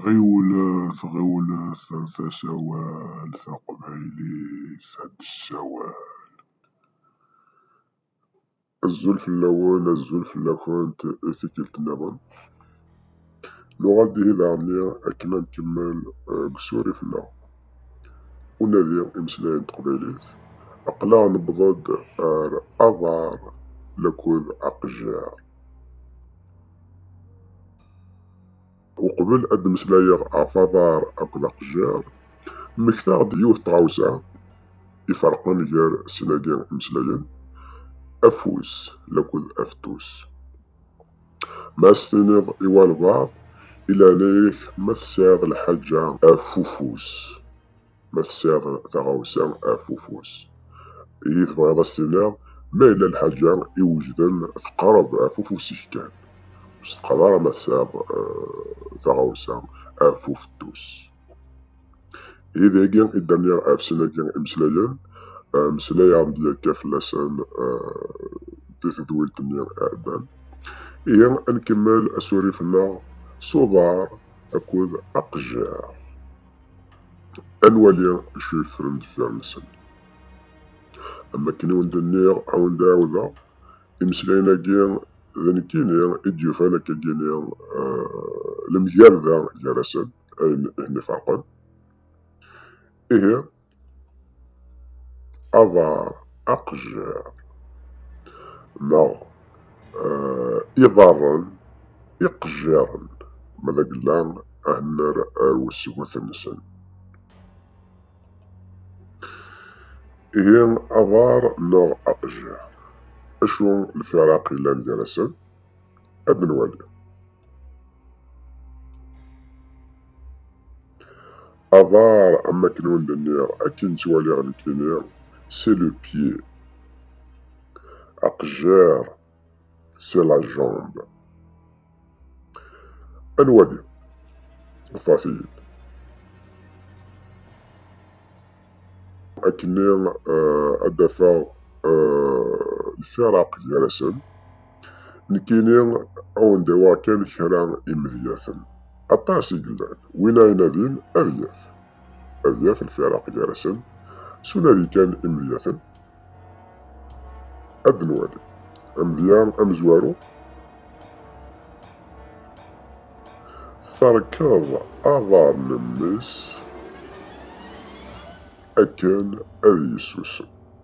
Ɣiwlet ɣiwlet ar tasawal taqbaylit ad d-tessawal. Azul fell-awen azul fell-akent i tikkelt nniḍen. Nuɣal-d ihi daɣenni akken ad nkemmel deg usurif-nneɣ unadi imeslayen n teqbaylit. Aql-aɣ newweḍ-d ar aḍar laked aqejjir. وقبل ad d-meslayeɣ ɣef aḍar akked aqejjir, mmektaɣ-d yiwet n tɣawsa iferqen gar sin-agi imeslayen, afus akked afetus. Ma as-tiniḍ i walbaɛḍ, ilɛna-ak ma tesɛiḍ lḥaǧa af ufus. ma tesɛiḍ taɣawsa af ufus. Iyi tebɣiḍ ad s-tiniḍ, ma yella lḥaǧa iwejden teqreb af ufus-ik kan. Ur s-teqqar ara ma tesɛiḍ eh, taɣawsa af ufettus. Ihi dagi i d-nniɣ af sin-agi imeslayen, eh, meslayeɣ-d yakka fell-asen eh, di tedwilt-nni iɛeddan. Ihi ad nkemmel asurif-nneɣ s uḍar akked aqejjar. ad nwali acu yeffren deffir-nsen. Am wakken i wen-d-nniɣ, ad wen-d-ɛawdeɣ, imeslayen-agi d nekkini i d-yufan akka gini lemgerda gar-asen, ayen i ten-ifeṛqen. Ihi, aḍar aqejjir neɣ eh, iḍarren iqejjiren ma d agella ahennar ar usgut-nsen. Ihi aḍar neɣ aqejjir, acu lfiraq yellan gar-asen? Ad nwali. Aḍar, am akken ur d-nniɣ, akken ttwaliɣ nekkini, c'est le pied. Aqejjar, c'est la jambe. Ad nwali. Ḍfeṛt-iyi-d. Akkenni ad d-afeɣ lfiraq gar-asen. Nekkini awen-d-awaɣ kan kra imedyaten. Aṭas i yellan, win ara inadin ad yaf. Ad yaf lfiraq gar-asen, s unadi kan imedyaten. Ad d-nwali. Amedya amezwaru, terkeḍ aḍar n mmi-s akken ad yessusem.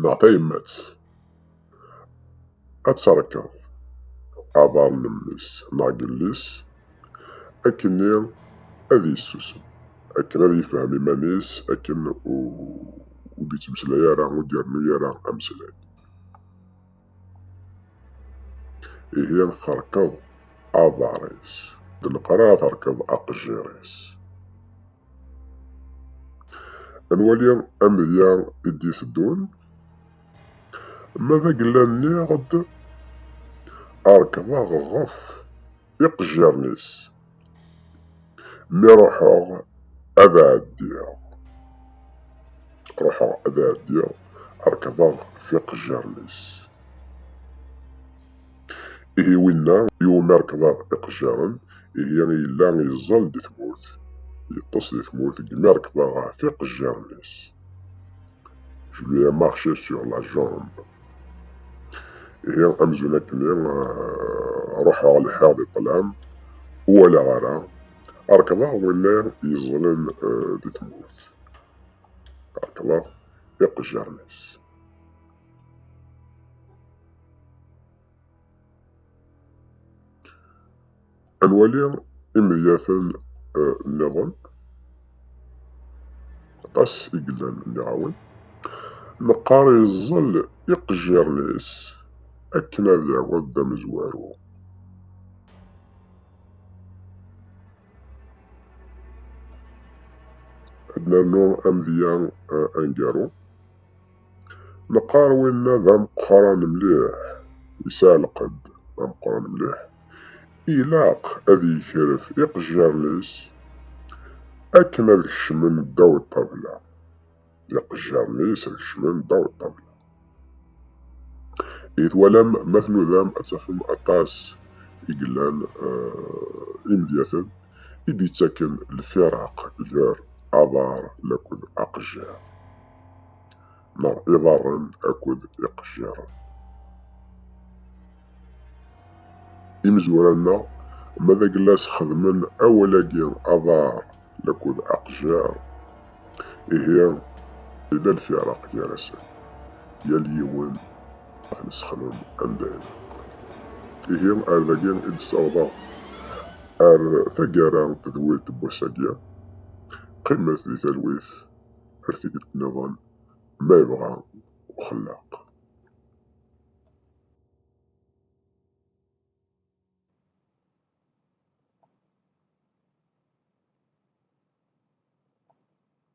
neɣ tayemmat ad terkeḍ aḍar n mmi-s neɣ n yelli-s akkenni ad yessusem, akken ad yefhem iman-is, akken ur d-yettmeslay ara, ur d-irennu ara ameslay. Ihi terkeḍ aḍar-is, d leqrar terkeḍ aqejjir-is. Ad nwali amedya i d-iteddun. Ma d agella nniɣ-d rekḍeɣ ɣef iqejjiren-is. Mi ruḥeɣ ad ɛeddiɣ, ruḥeɣ ad ɛeddiɣ rekḍeɣ ɣef iqejjiren-is. Ihi winna iwumi rekḍa iqejjaren, ihi yella yeẓẓal di tmurt, yeṭṭes di tmurt deg mi rekḍa ɣef iqejjaren-is. Je lui ai marché sur la jambe. Ihi amzun akkenni ruḥeɣ lḥiɣ di ṭlam, ur walaɣ ara, rekḍa winna yeẓẓlen di tmurt, rekḍa iqejjaren-is. ad nwali imedyaten eh, nniḍen aṭas i yellan nniɣawen meqqar yeẓẓel iqejjiren-is akken ad yaweḍ d amezwaru ad nernu amedya eh, aneggaru Neqqar winna d ameqqran mliḥ, yesɛa lqedd, d ameqqran mliḥ, ilaq ad yekref iqejjaren-is akken ad kecmen ddaw ṭṭabla, iqejjaren-is ad kecmen ddaw ṭṭabla. I twalam ma tnudam ad tafem aṭas i yellan eh, imedyaten i d-yettaken lfiraq gar aḍar laked aqejjar. neɣ iḍarren akked iqejjiren. Imezwura-nneɣ, ma d aglas xedmen awal-agi aḍar akked aqejjir, ihi yella lfiraq gar-asen, yal yiwen ad nesexdem anda ilaq. Ihi ar dagi i d-ssawḍeɣ ar taggara d wiṭ n wass-agi. Qqimet di talwit ar tikkelt nniḍen ma yebɣa uxellaq.